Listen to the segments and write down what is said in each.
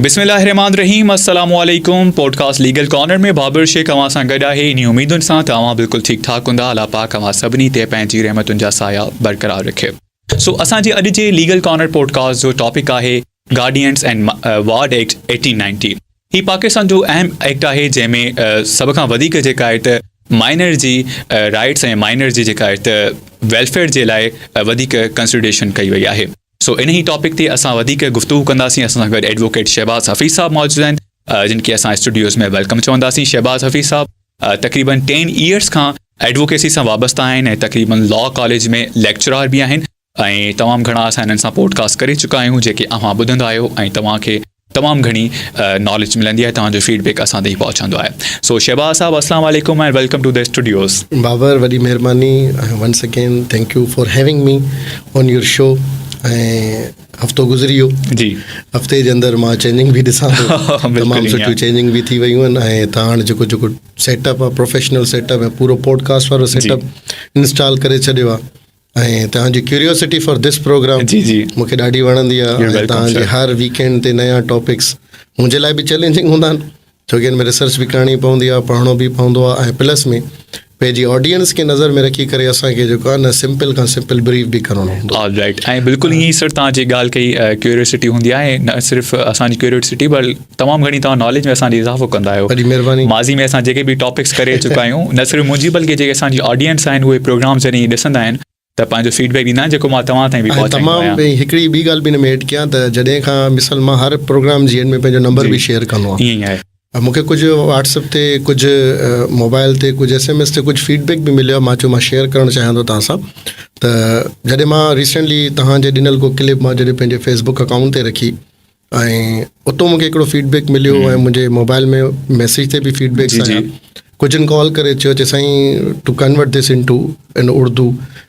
بسم الله الرحمٰن الرحيم السلام عليڪم podcast legal corner ۾ Babar Shaikh اوهان سان گڏ آهي انهي اميدن سان ته اوهان بلڪل ٺيڪ ٺاڪ هوندا الله پاڪ اوهان سڀني تي پنهنجي رحمتن جا سايا برقرار رکي سو اسان جي اڄ جي ليگل ڪارنر پوڊڪاسٽ جو ٽاپڪ آهي guardians and ward act eighteen ninety هي پاڪستان جو اهم ايڪٽ آهي جنهن ۾ سڀ کان وڌيڪ جيڪا آهي ته مائنر جي رائٽس ۽ مائنر جي جيڪا آهي ته ويلفيئر جي لاء وڌيڪ ڪنسڊريشن ڪئي وئي آهي سو انهي ٽاپڪ تي اسان وڌيڪ گفتگو ڪنداسين اسان سان گڏ ايڊووڪيٽ شهباز حفيظ صاحب موجود آهن جن کي اسان اسٽوڊيوز ۾ ويلڪم چونداسين شهباز حفيظ صاحب تقريبن ٽين ايئرس کان ايڊووڪيسي سان وابسته آهن ۽ تقريبن لا ڪاليج ۾ ليڪچرار به آهن ۽ تمام گهڻا اسان هنن سان پوڊڪاسٽ ڪري چڪا آهيون جيڪي اوهان ٻڌندا آهيو ۽ توهان کي تمام گهڻي ناليج ملندي آهي توهان جو فيڊ بيڪ اسان تائين پهچندو آهي سو شهباز صاحب اسلام عليڪم and welcome to the studios. Babar وڏي مهرباني ۽ once again thank you for having me on your show ۽ هفتو گذري ويو جي هفتي جي اندر مان چينجنگ به ڏسان ٿو تمام سٺيون چينجنگ به ٿي ويون آهن ۽ تان هاڻ جيڪو جيڪو سيٽ اپ آهي پروفيشنل سيٽ اپ ۽ پورو پوڊڪاسٽ وارو سيٽ اپ انسٽال ڪري ڇڏيو آهي ۽ توهان جي ڪيوريوسٽي فار ڌس پروگرام جي جي مون کي ڏاڍي وڻندي آهي ۽ توهان جي هر ويڪينڊ تي نيا ٽاپڪس منهنجي لاء به چئلينجنگ هوندا آهن ڇو ڪي ان ۾ ريسرچ به ڪرڻي پوندي آهي پڙهڻو به پوندو آهي ۽ پلس ۾ پنهنجي آڊينس کي نظر ۾ رکي ڪري اسان کي جيڪو آهي نه سمپل کان سمپل بريف به ڪرڻو هوندو آل رائٽ ۽ بلڪل ائين سر توهان جي ڳالهه ڪئي ڪيوريوسٽي هوندي آهي نه صرف اسان جي ڪيوريوسٽي بلڪ تمام گهڻي توهان ناليج ۾ اسان جي اضافو ڪندا آهيو وڏي مهرباني ماضي ۾ اسان جيڪي به ٽاپڪس ڪري چڪا آهيون نه صرف منهنجي بلڪه جيڪي اسان جي آڊينس آهن اهي پروگرام جڏهن ڏسندا آهن ته پنهنجو فيڊبيڪ ڏيندا آهن جيڪو مان توهان تائين به پهچائيندو آهيان تمام هڪڙي ٻي ڳالهه به ان ۾ ايڊ ڪيان ته جڏهن کان مثال مان هر پروگرام جي اينڊ ۾ پنهنجو نمبر به شيئر ڪندو آهيان ائين آهي مون کي ڪجهه واٽس اپ تي ڪجهه موبائل تي ڪجهه ايس ايم ايس تي ڪجهه فيڊ بيڪ به مليو آهي مان چيو مان شيئر ڪرڻ چاهيان ٿو توهان سان ته جڏهن مان ريسينٽلي توهان جي ڏنل ڪو ڪلپ مان جڏهن پنهنجي فيس بڪ اڪائونٽ تي رکي ۽ اتو مونکي هڪڙو فيڊ بيڪ مليو ۽ منهنجي موبائل ۾ ميسيج تي به فيڊ بيڪ آيا ڪجهن ڪال ڪري چيو چي سائين to convert this into in Urdu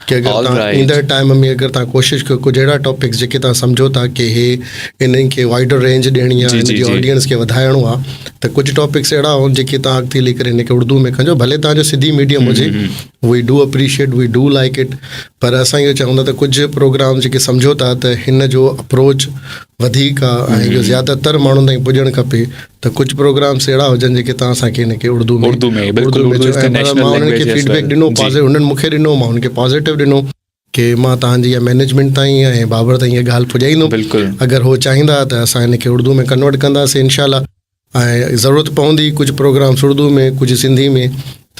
ڪي اگر تان ايندڙ ٽائيم ۾ اگر تان ڪوشش ڪيو ڪجهه اهڙا ٽاپڪس جيڪي تان سمجهو ٿا ڪي هي انهن کي وائڊر رينج ڏيڻي آهي انهن جي آڊينس کي وڌائڻو آهي ته ڪجهه ٽاپڪس اهڙا هئا جيڪي تان اڳتي هلي ڪري ان کي اردو ۾ ڪجو ڀلي تان جو سنڌي ميڊيم هجي we do appreciate we do like it پر اسان اهو چاهيون ٿا ته ڪجهه پروگرام جيڪي سمجهو ٿا ته هن جو اپروچ وڌيڪ آهي ۽ جو زياده تر ماڻهن تائين پڄڻ کپي ته ڪجهه پروگرامس اهڙا هجن جيڪي تان اسان کي هن کي اڙدو ۾ اڙدو ۾ مان انهن کي فيڊبيڪ ڏنو پازيٽو هنن مون کي ڏنو مان انهن کي پازيٽو ڏنو کي مان توهان جي مئنيجمينٽ تائين ۽ بابر تائين اها ڳالهه پڄائيندم بلڪل اگر هو چاهيندا ته اسان ان کي اردو ۾ ڪنورٽ ڪنداسين انشاء الله ۽ ضرورت پوندي ڪجهه پروگرامس اردو ۾ ڪجهه سنڌي ۾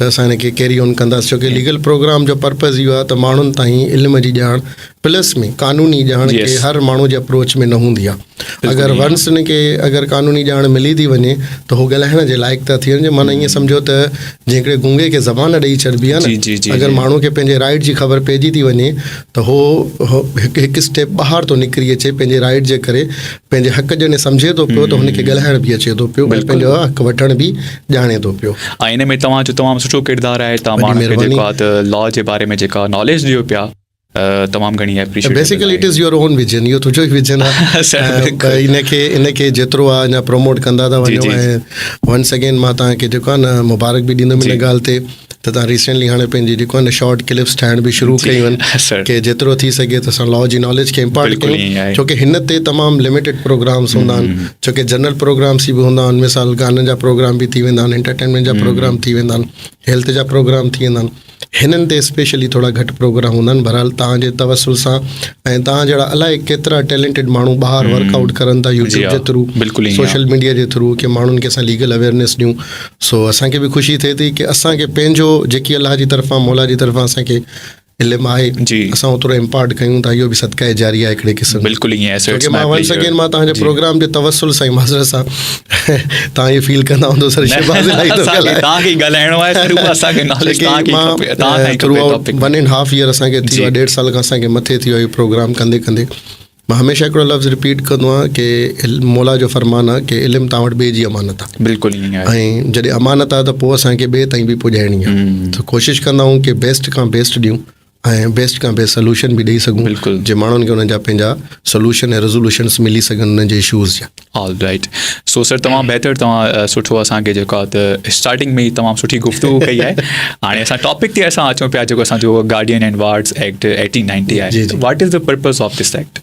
ته اسان ان کي ڪيري آن ڪنداسين ڇو ڪي ليگل پروگرام جو پرپز اهو آهي ته ماڻهن تائين علم جي ڄاڻ پلس ۾ قانوني ڄاڻ کي هر ماڻهو جي اپروچ ۾ نه هوندي آهي اگر ونس ان کي اگر قانوني ڄاڻ ملي ٿي وڃي ته هو ڳالهائڻ جي لائق ٿا ٿي وڃن معنی ائين سمجهو ته جيڪڏهن گونگي کي زبان ڏيئي ڇڏبي آهي نه اگر ماڻهو کي پنهنجي رائٽ جي خبر پئجي ٿي وڃي ته هو هڪ هڪ اسٽيپ ٻاهر ٿو نڪري اچي پنهنجي رائٽ جي ڪري پنهنجي حق جڏهن سمجهي ٿو پيو ته هن کي ڳالهائڻ به اچي ٿو پيو ۽ پنهنجو حق وٺڻ به ڄاڻي ٿو پيو ۽ ان ۾ توهان جو تمام سٺو ڪردار آهي توهان ماڻهن کي جيڪو آهي ته لا جي باري ۾ جيڪا ناليج ڏيو پيا تمام گهڻي appreciate basically it is your own vision اهو تنهنجو ئي ويجن آهي ان کي ان کي جيترو آهي اڃا پروموٽ ڪندا ٿا وڃو ۽ ونس اگين مان تان کي جيڪو آهي نه مبارڪ به ڏيندم ان ڳالهه تي ته تان ريسينٽلي هاڻي پنهنجي جيڪو آهي نه شارٽ ڪلپس ٺاهڻ به شروع ڪيون آهن ڪي جيترو ٿي سگهي ته اسان لا جي ناليج کي امپارٽ ڪيون ڇو ڪي هن تي تمام لميٽيڊ پروگرامس هوندا آهن ڇو ڪي جنرل پروگرامس به هوندا آهن مثال گانن جا پروگرام به ٿي ويندا آهن انٽرٽينمينٽ جا پروگرام ٿي ويندا آهن هيلٿ جا پروگرام ٿي ويندا آهن هنن تي اسپيشلي ٿورا گهٽ پروگرام هوندا آهن بهرحال توهان جي توسل سان ۽ توهان جهڙا الائي ڪيترا ٽيلنٽيڊ ماڻهو ٻاهر ورڪ آؤٽ ڪرن ٿا يوٽيوب جي ٿرو سوشل ميڊيا جي ٿرو ڪي ماڻهن کي اسان ليگل اويرنيس ڏيون سو اسان کي به خوشي ٿئي ٿي ڪي اسان کي پنهنجو جيڪي الله جي طرفان مولا جي طرفان اسان کي علم آهي جي اسان اوترو امپارٽ ڪيون ٿا اهو به صدقه جاري آهي هڪڙي قسم بلڪل ائين آهي سو ماڻهن سان ڪي ماڻهن تان جي پروگرام جي توسل سان معذرت سان توهان هي فيل ڪندا هوندو سر شهباز الائي ٿو ڳالهائي توهان کي ڳالهائڻو آهي سر اسان کي ناليج توهان کي کپي توهان کي throughout 1 and half year اسان کي ٿي ويا ڏيڍ سال کان اسان کي مٿي ٿي ويو پروگرام ڪندي ڪندي مان هميشه هڪڙو لفظ رپيٽ ڪندو آهيان ڪي مولا جو فرمان آهي ڪي علم توهان وٽ ٻي جي امانت آهي بلڪل ائين آهي ۽ جڏهن امانت آهي ته پوء اسان کي ٻي تائين به پڄائڻي آهي ته ڪوشش ڪندا آهيون ڪي بيسٽ کان بيسٽ ڏيون ۽ بيسٽ کان بيسٽ سلوشن به ڏئي سگهون بلڪل جي ماڻهن کي انهن جا پنهنجا سلوشن ۽ ريزولوشنس ملي سگهن انهن جي اشوز جا آل رائٽ سو سر تمام بهتر توهان سٺو اسان کي جيڪو ته اسٽارٽنگ ۾ تمام سٺي گفتگو ڪئي آهي هاڻي اسان ٽاپڪ تي اسان اچون پيا جيڪو اسان جو گارڊين اينڊ وارڊس ايڪٽ 1890 آهي what is the purpose of this act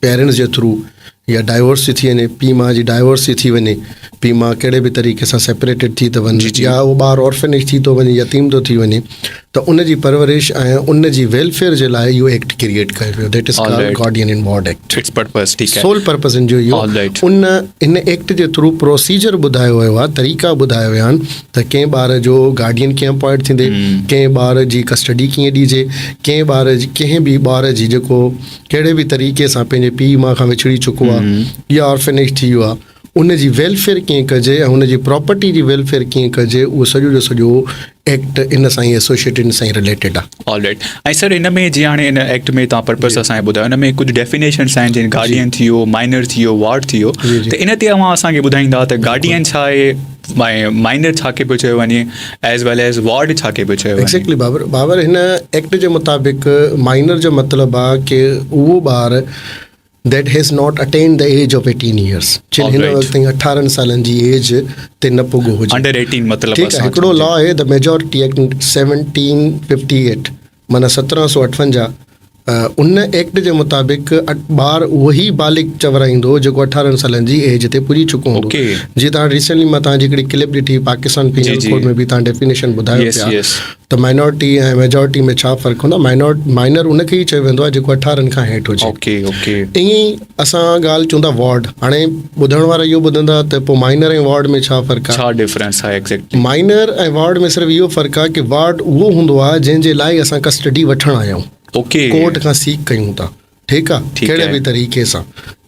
parents جي ٿرو يا ڊائيورس ٿي وڃي پي ماء جي ڊائيورس ٿي وڃي پي ماء ڪهڙي به طريقي سان سيپريٽيڊ ٿي ته وڃي يا هو ٻار اورفنيج ٿي ٿو وڃي يتيم ٿو ٿي وڃي ته ان جي پرورش ۽ ان جي ويلفيئر جي لاء اهو ايڪٽ ڪرييٽ ڪيو ويو that is called guardian and ward act its purpose ٺيڪ آهي سول پرپس ان جو اهو ان ان ايڪٽ جي ٿرو پروسيجر ٻڌايو ويو آهي طريقا ٻڌايا ويا آهن ته ڪنهن ٻار جو گارڊين ڪيئن اپوائنٽ ٿيندي ڪنهن ٻار جي ڪسٽڊي ڪيئن ڏيجي ڪنهن ٻار جي ڪنهن به ٻار جي جيڪو ڪهڙي به طريقي سان پنهنجي پيء ماء کان وڇڙي چڪو آهي يا آرفنيج ٿي ويو آهي ان جي ويلفيئر ڪيئن ڪجي ۽ ان جي پراپرٽي جي ويلفيئر ڪيئن ڪجي اهو سڄو جو سڄو ايڪٽ ان سان ايسوشيٽ ان سان ريليٽيڊ آهي آل رائٽ ۽ سر ان ۾ جي هاڻي ان ايڪٽ ۾ تان پرپس اسان کي ٻڌايو ان ۾ ڪجهه ڊيفينيشنس آهن جن گارڊين ٿي ويو مائنر ٿي ويو وارڊ ٿي ويو ته ان تي اوهان اسان کي ٻڌائيندا ته گارڊين ڇا آهي مائنر ڇا کي پيو چيو وڃي ايز ويل ايز وارڊ ڇا کي پيو چيو وڃي ايگزيڪٽلي بابر بابر هن ايڪٽ جي مطابق مائنر جو مطلب آ ڪي اهو ٻار that has not attend the age of 18 years جن هن وقت تائين 18 سالن جي ايج تي نه پڳو هجي انڊر 18 مطلب ٺيڪ آ هڪڙو لا آهي ذا ميجورٽي ايڪٽ 1758 معنيٰ سترهن سؤ اٺونجاهه، ان ايڪٽ جي مطابق ٻار اهو ئي بالغ چورائيندو جيڪو اٺارهن سالن جي ايج تي پڄي چڪو هوندو. جي تان هاڻي ريسينٽلي مان تان جي هڪڙي ڪلپ ڏٺي پاڪستان پينل ڪوڊ ۾ به تان ڊيفينيشن ٻڌايو پيا ته مائنارٽي ۽ ميجارٽي ۾ ڇا فرق هوندو آهي. مائنر ان کي ئي چيو ويندو آهي جيڪو اٺارهن کان هيٺ هجي. ائين ئي اسان ڳالهه ڪيون ٿا وارڊ هاڻي ٻڌڻ وارا اهو ٻڌندا ته پوء مائنر ۽ وارڊ ۾ ڇا فرق آهي. ڇا ڊفرنس آهي ايگزيڪٽلي. مائنر ۽ وارڊ ۾ صرف اهو فرق آهي ڪه وارڊ اهو هوندو آهي جنهن جي لاء اسان ڪسٽڊي وٺڻ آيائون. اوڪي. ڪورٽ کان سيڪ ڪيون ٿا. ٺيڪ آهي. ٺيڪ ڪهڙي آهي. به طريقي سان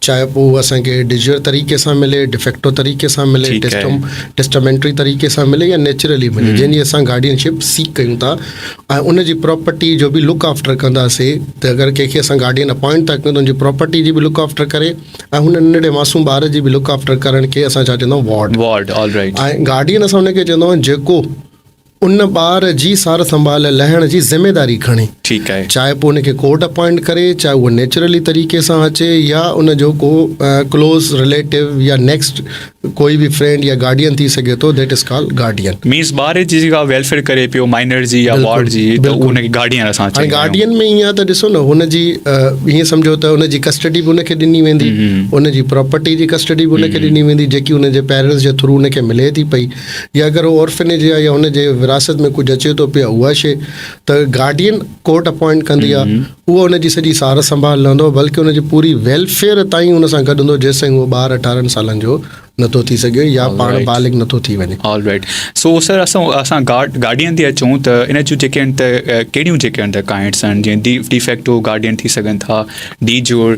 چاهي پوء هو اسان کي ڊيجيئر طريقي سان ملي، ڊفيڪٽو طريقي سان ملي، ٺيڪ آهي. ٽيسٽم ٽيسٽامينٽري طريقي سان ملي يا نيچرلي ملي جنهن جي اسان گارڊين شپ سيڪ ڪيون ٿا. ۽ ان جي پراپرٽي جو به لڪ آفٽر ڪنداسي ته اگر ڪنهن کي اسان گارڊين اپوائنٽ ٿا ڪيون ته ان جي پراپرٽي جي به لڪ آفٽر ڪري ۽ هن ننڍڙي معصوم ٻار جي به لڪ آفٽر ڪرڻ کي اسان ڇا چوندا آهيون ward ward all right ۽ guardian اسان ان کي چوندا آهيون جيڪو ان ٻار جي سار سنڀال لهڻ جي ذميداري کڻي ٺيڪ آهي چاهي پوء ان کي ڪورٽ اپوائنٽ ڪري چاهي هو نيچرلي طريقي سان اچي يا ان جو ڪو ڪلوز رليٽو يا نيڪسٽ ڪوئي به فرينڊ يا گارڊين ٿي سگهي ٿو that is call guardian. Means ٻار جي جيڪا ويلفيئر ڪري پيو مائنر جي يا وارڊ جي ته بلڪل ان کي گارڊين اسان هاڻي چئندا آهيون. گارڊين ۾ ائين آهي ته ڏسو نه هن جي ائين سمجهو ته ان جي ڪسٽڊي به ان کي ڏني ويندي ان جي پراپرٽي جي ڪسٽڊي به ان کي ڏني ويندي جيڪي ان جي پيرنٽس جي ٿرو ان کي ملي ٿي پئي يا اگر هو اورفنيج يا يا ان جي ورهاست ۾ ڪجهه اچي ٿو پيو اها شي ته گارڊين ڪورٽ اپوائنٽ ڪندي آ اهو ان جي سڄي سار سنڀال لهندو بلڪه ان جي پوري ويلفيئر تائين ان سان گڏ هوندو جيسين اهو ٻار اٺارهن سالن جو نٿو ٿي سگهي يا پاڻ بالغ نٿو ٿي وڃي آل رائيٽ سو سر اسان اسان گارڊين تي اچون ته ان جون جيڪي آهن ته ڪهڙيون جيڪي آهن ته ڪائنٽس آهن جيئن ڊي ڊيفيڪٽو گارڊين ٿي سگهن ٿا de jure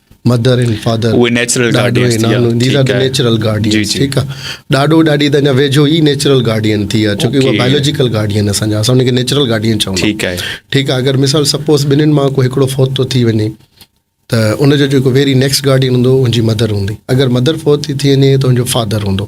mother and father اهي نيچرل گارڊينز ٿي ويا these are the natural guardians ٺيڪ آ ڏاڏو ڏاڏي ته اڃا ويجهو ئي نيچرل گارڊين ٿي ويا ڇو ڪي اهي بائيولوجيڪل گارڊين اسان جا اسان ان کي نيچرل گارڊين چون ٿا ٺيڪ آهي ٺيڪ آ اگر مثال سپوز ٻنهين مان ڪو هڪڙو فوت ٿو ٿي وڃي ته ان جو جيڪو ويري نيڪسٽ گارڊين هوندو ان جي مدر هوندي اگر مدر فوت ٿي ٿي وڃي ته ان جو فادر هوندو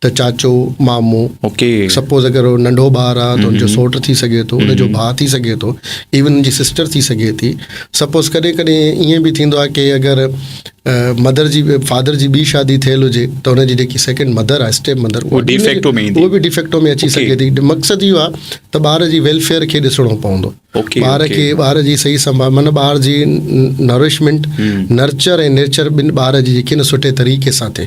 ته چاچو، مامو، سپوز اگر هو ننڍو ٻار آ ته ان جو سوٽ ٿي سگهي ٿو، ان جو ڀاء ٿي سگهي ٿو، ايون ان جي سسٽر ٿي سگهي ٿي. سپوز ڪڏهن ڪڏهن ائين به ٿيندو آ ڪي اگر مدر جي فادر جي ٻي شادي ٿيل هجي ته ان جي جيڪي سيڪنڊ مدر آ اسٽيپ مدر هو به ڊيفيڪٽو ۾ اچي سگهي ٿي. مقصد اهو آ ته ٻار جي ويلفيئر کي ڏسڻو پوندو. ٻار کي ٻار جي صحيح سنڀال معنيٰ ٻار جي نرشمينٽ نرچر ۽ نيچر ٻن ٻار جي جيڪي سٺي طريقي سان ٿئي.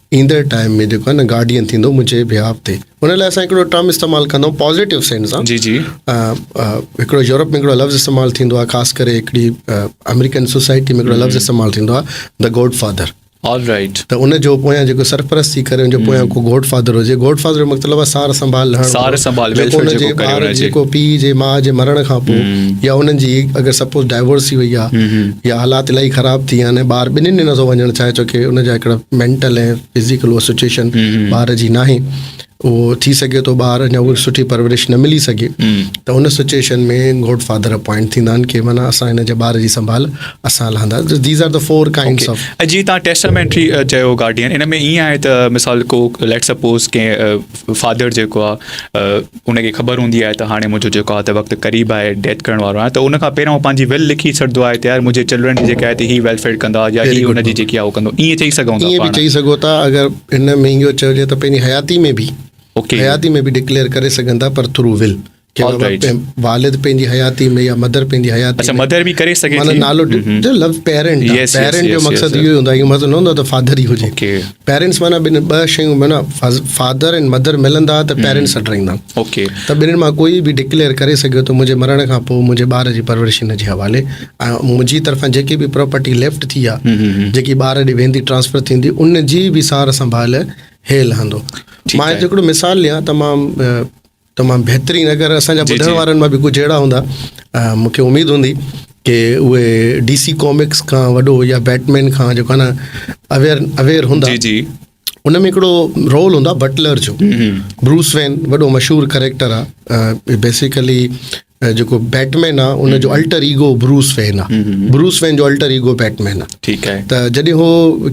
ايندڙ ٽائيم ۾ جيڪو آهي نه گارڊين ٿيندو منهنجي بهاف تي ان لاء اسان هڪڙو ٽرم استعمال ڪندو پازيٽو سينس سان جي جي هڪڙو يورپ ۾ هڪڙو لفظ استعمال ٿيندو آهي خاص ڪري هڪڙي آمريڪن سوسائٽي ۾ هڪڙو لفظ استعمال ٿيندو آهي the godfather all right ته ان جو پويان جيڪو سرپرست ٿي ڪري ان جو پويان کو گوڊ فادر هجي گوڊ فادر جو مطلب آهي سار سنڀال لهڻ سار سنڀال جيڪو ان جي ٻار جيڪو پيء جي ماء جي مرڻ کان پوء يا انهن جي اگر سپوز ڊائيورس ٿي وئي آهي يا حالات الاهي خراب ٿي ويا آهن ۽ ٻار ٻنهين ۾ نٿو وڃڻ چاهي ڇو ڪي ان جا هڪڙا مينٽل ۽ فزيڪل اها سچويشن ٻار جي ناهي اهو ٿي سگهي ٿو ٻار اڃا اهڙي سٺي پرورش نه ملي سگهي ته ان سچويشن ۾ گوڊ فادر اپوائنٽ ٿيندا آهن ڪي معنيٰ اسان هن جي ٻار جي سنڀال اسان لهندا these are the four kinds of جي تان ٽيسٽامينٽري چيو گارڊين ان ۾ ايئن آهي ته مثال ڪو ليٽ سپوز ڪي فادر جيڪو آهي ان کي خبر هوندي آهي ته هاڻي منهنجو جيڪو آهي ته وقت قريب آهي، ڊيٿ ڪرڻ وارو آهيان ته ان کان پهريان هو پنهنجي ويل لکي ڇڏندو آهي ته يار منهنجي چلڊرن جي جيڪي آهي ته هي ويلفيئر ڪندا يا هي ان جي جيڪي آهي هو ڪندو ائين چئي سگهون ٿا ائين به چئي سگهو ٿا اگر هن ۾ اهو چئجي ته پنهنجي حياتي ۾ به اوڪي حياتي ۾ به ڊڪليئر ڪري سگهن ٿا پر ٿرو ويل والد پنهنجي حياتي ۾ يا مدر پنهنجي حياتي اچھا مدر به ڪري سگهي ٿي نالو جو لفظ پيرنٽ پيرنٽ جو مقصد اهو هوندو آهي مطلب نه هوندو ته فادر ئي هجي پيرنٽس معنيٰ ٻن ٻه شيون معنيٰ فادر اينڊ مدر ملندا ته پيرنٽس سٽ رهندا اوڪي ته ٻنهي مان ڪوئي به ڊڪليئر ڪري سگهيو ته منهنجي مرڻ کان پوء منهنجي ٻار جي پرورش هن جي حوالي ۽ منهنجي طرفان جيڪي به پراپرٽي ليفٽ ٿي آهي جيڪي ٻار ڏي ويندي ٽرانسفر ٿيندي ان جي به سار سنڀال هي لهندو مان هڪڙو مثال ڏيان ته مان تمام بهترين اگر اسان جا ٻڌڻ وارن مان به ڪجهه اهڙا هوندا مون کي اميد هوندي ڪي اهي ڊي سي ڪامڪس کان وڏو يا بيٽمين کان جو ڪانا اوير اوير هوندا جي جي ان ۾ هڪڙو رول هوندا بٽلر جو بروس وين وڏو مشهور ڪريڪٽر آ بيسيڪلي جيڪو بيٽمين آ ان جو الٽر ايگو بروس وين آ بروس وين جو الٽر ايگو بيٽمين آ ٺيڪ آهي ته جڏهن هو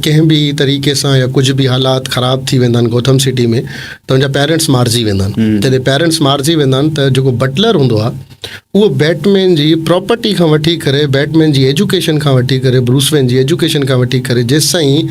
ڪنهن به طريقي سان يا ڪجهه به حالات خراب ٿي ويندا آهن گوٿم سٽي ۾ ته ان جا پيرنٽس مارجي ويندا آهن جڏهن پيرنٽس مارجي ويندا آهن ته جيڪو بٽلر هوندو آ اهو بيٽمين جي پراپرٽي کان وٺي ڪري بيٽمين جي ايجوڪيشن کان وٺي ڪري بروس وين جي ايجوڪيشن کان وٺي ڪري جيسين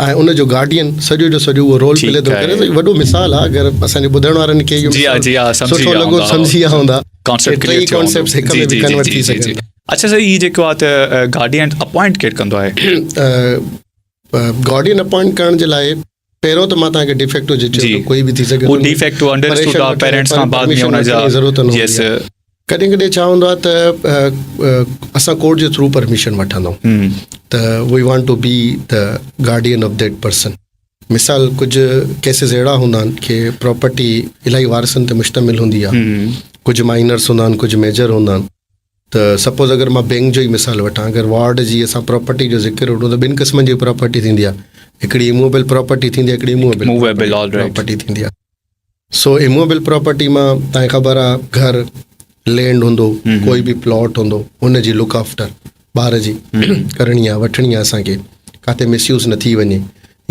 ۽ ان جو گارڊين سڄو جو سڄو اهو رول پلي ٿو ڪري ته وڏو مثال آهي اگر اسان جي ٻڌڻ وارن کي اهو سٺو لڳو سمجهي ويا هوندا ڪانسيپٽ ڪليئر ٿيو هوندو ڪانسيپٽس هڪ ۾ ڪنورٽ ٿي سگهن ٿا اڇا سر هي جيڪو آهي ته گارڊين اپوائنٽ ڪير ڪندو آهي گارڊين اپوائنٽ ڪرڻ جي لاء پهريون ته مان تانکي ڊيفيڪٽو جي چيو ته ڪوئي به ٿي سگهي ٿو ڊيفيڪٽو انڊرسٽوڊ آهي پيرنٽس کان بعد ۾ ان جا ضرورت نه هوندي ڪڏهن ڪڏهن ڇا هوندو آهي ته اسان ڪورٽ جي ٿرو پرميشن وٺندا آهيون ته وي وانٽ ٽو بي ته گارڊين آف ديٽ پرسن مثال ڪجهه ڪيسز اهڙا هوندا آهن ڪي پراپرٽي الاهي وارثن تي مشتمل هوندي آهي ڪجهه مائنرس هوندا آهن ڪجهه ميجر هوندا آهن ته سپوز اگر مان بينڪ جو ئي مثال وٺان اگر وارڊ جي اسان پراپرٽي جو ذڪر وٺون ته ٻن قسمن جي پراپرٽي ٿيندي آهي هڪڙي اموبل پراپرٽي ٿيندي آهي هڪڙي اموبل پراپرٽي ٿيندي آهي سو اموبل پراپرٽي مان تائين خبر آ گهر لينڊ هوندو ڪوئي به پلاٽ هوندو ان جي لوڪ آفٽر ٻار جي ڪرڻي آ وٺڻي آ اسان کي ڪاٿي مس يوز نه ٿي وڃي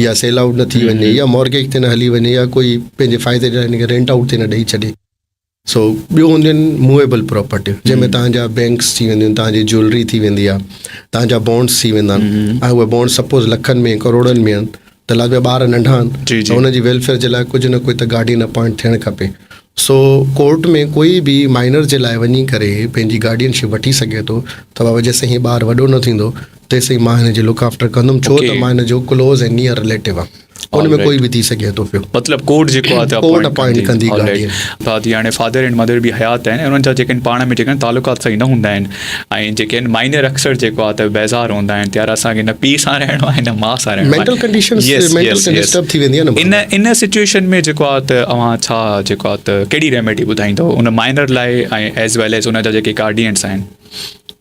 يا سيل آئوٽ نه ٿي وڃي يا مورگيج تي نه هلي وڃي يا ڪوئي پنهنجي فائدي جا هن کي رينٽ آئوٽ تي نه ڏئي ڇڏي. سو ٻيو هونديون آهن موويبل پراپرٽيون جنهن ۾ تهان جا بينڪس ٿي وينديون آهن تهان جي جولري ٿي ويندي آهي تهان جا بونڊس ٿي ويندا آهن ۽ اهي بونڊ سپوز لکن ۾ ڪروڙن ۾ آهن ته لال جا ٻار ننڍا آهن ته هن جي ويلفيئر جي لاء ڪجهه نه ڪجهه ته گارڊين اپوائنٽ ٿيڻ کپي سو ڪورٽ ۾ ڪوئي به مائنر جي لاء وڃي ڪري پنهنجي گارڊين شپ وٺي سگهي ٿو ته بابا جيسين هي ٻار وڏو نه ٿيندو تيسين مان هن جي لڪ آفٽر ڪندم ڇو ته مان هن جو ڪلوز ۽ نيئر رليٽو آهن ان ۾ ڪوئي به ٿي سگهي ٿو پيو مطلب ڪورٽ جيڪو آهي ته ڪورٽ اپوائنٽ ڪندي گاڏي بعد يعني فادر ۽ مدر به حيات آهن انهن جا جيڪن پاڻ ۾ جيڪن تعلقات صحيح نه هوندا آهن ۽ جيڪن مائنر اڪثر جيڪو آهي ته بيزار هوندا آهن تيار اسان کي نه پي سان رهڻو آهي نه ماء سان رهڻو مينٽل ڪنڊيشن مينٽل ڊسٽرب ٿي ويندي آهي ان ان سچويشن ۾ جيڪو آهي ته اوهان ڇا جيڪو آهي ته ڪهڙي ريميڊي ٻڌائيندو ان مائنر لاء ۽ ايز ويل ايز ان جا جيڪي گارڊينز آهن